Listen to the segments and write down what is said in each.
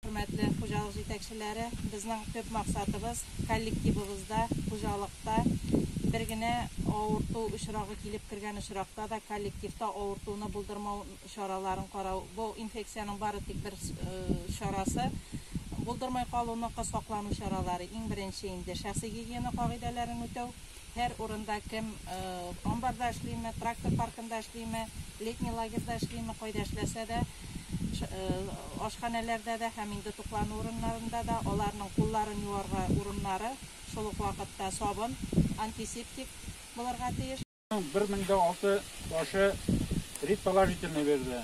Хөрмәтле хуҗалык җитәкчеләре, безнең төп максатыбыз, коллективыбызда, хуҗалыкта бер генә авырту очрагы килеп кергән очракта да коллективта авыртуны булдырмау чараларын карау. Бу инфекциянең бары тик бер чарасы, булдырмый калуны, саклану чаралары. Иң беренче инде шәхси гигиена кагыйдәләрен үтәү. Һәр урында кем амбарда эшлиме, трактор паркында эшлиме, летний лагерьда эшлиме, кайда эшләсә дә, ашханәләрдә дә һәм инде туклану урыннарында да аларның кулларын юарга урыннары, шул ук вакытта сабын, антисептик булырга тиеш. Бер мең дә алты башы предположительный бирде.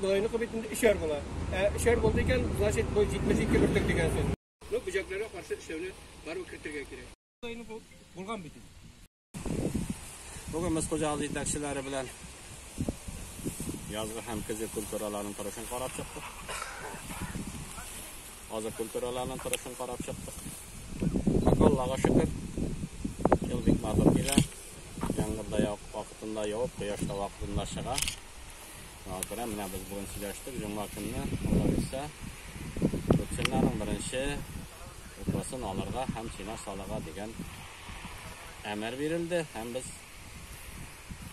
Долайныкы бит инде өчәр була. Ә өчәр булды икән, значит, бу 72 бөртек дигән сүз. Ну, бөҗәкләргә каршы эшләүне барып кертергә кирәк. Долайны булган бит. Бүген без хуҗалык җитәкчеләре белән язгы һәм көзге культураларның торышын карап чыктык. Азык культураларның торышын карап чыктык. Аллага шөкер, ел бик матур килә. Яңгыр да вакытында явып, кояш та вакытында чыга. Күрәм, менә без бүген сөйләштек, җомга көнне, Алла бирсә, вакциннарның беренче укосын алырга һәм сыйнаш салырга дигән әмер бирелде һәм без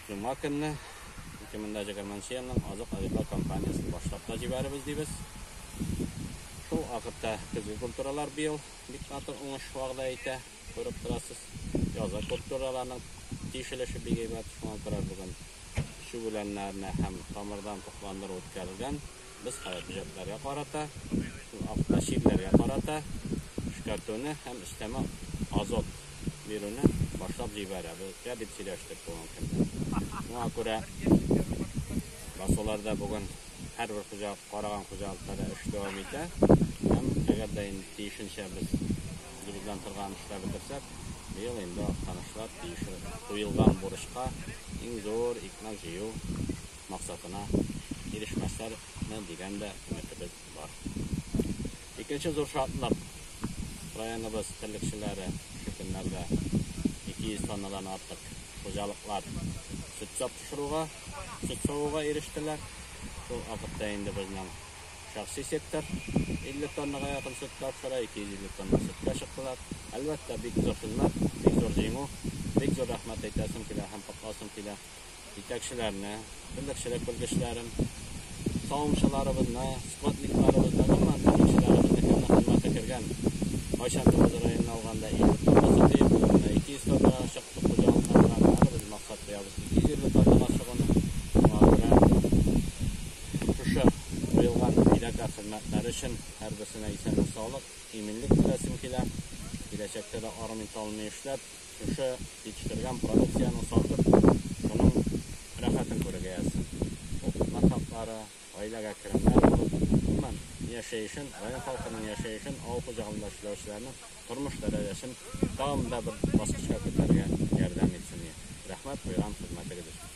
җомга көнне 2020 елның азык-азыклар компаниясен башлап та җибәрербез дибез. Шул вакытта көзге культуралар быел бик тату уңыш вәгъдә итә. Күреп торасыз, язгы культураларның тиеш өлеше бик әйбәт, шуңа күрә бүген чүгүләннәрне һәм тамырдан тукландыру үткәрелгән. Без кая төзәкләргә карата, шул аркылы чирләргә карата эшкәртүне һәм өстәмә азот бирүне башлап җибәрәбез дә дип сөйләштек бүгенге көндә. Шуңа күрә басуларда бүген һәрбер хуҗалык караган хуҗалыкта да эш дәвам итә һәм әгәр дә инде тиешенчә без Нигезләнеп торган эшкә бетерсәк, быел инде актанышлар тиешен куелган бурычка, иң зур икмәк җыю максатына ирешмәсләрме дигән дә өметебез бар. Икенче зур шатлык, районыбыз терлекчеләре шушы көннәрдә 200 тоннадан артык хуҗалыклар сөт сатып чыгаруга, сөт савуга ирештеләр. Шул вакытта инде безнең Шәхси сектор 50 тоннага якын сөт тапшыра, 250 тонна сөткә чыктылар. Әлбәттә, бик зур хезмәт, бик зур җиңү. Бик зур рәхмәт әйтәсем килә һәм котласым килә җитәкчеләрне, терлекчелек белгечләрен, савымчыларыбызны, скотникларыбызны, гомумән, терлекчеләребезне, кемнең хезмәте кергән. Кайчан Тугыз районын алганда 50 тонна сөт җыеп, бүген менә 200 тоннага чыкты хуҗалыкларда һәм әле без максат куябыз 250 тоннага чыгуны. Шуңа күрә Шушы куелган бирәгә хезмәтләре өчен һәрберсенә исәнлек саулык, иминлек теләсем килә. Киләчәктә дә армый талмый эшләп, шушы җитештергән продукцияне сатып, шуның рәхәтен күрергә язсын. Укытма хаклары, гаиләгә керемнәр булып, гомумән, яшәешен, район халкының яшәешен, авыл хуҗалыгында эшләүчеләрнең тормыш дәрәҗәсен тагын да бер баскычка күтәрергә ярдәм итсен, рәхмәт куйган хезмәтегез өчен.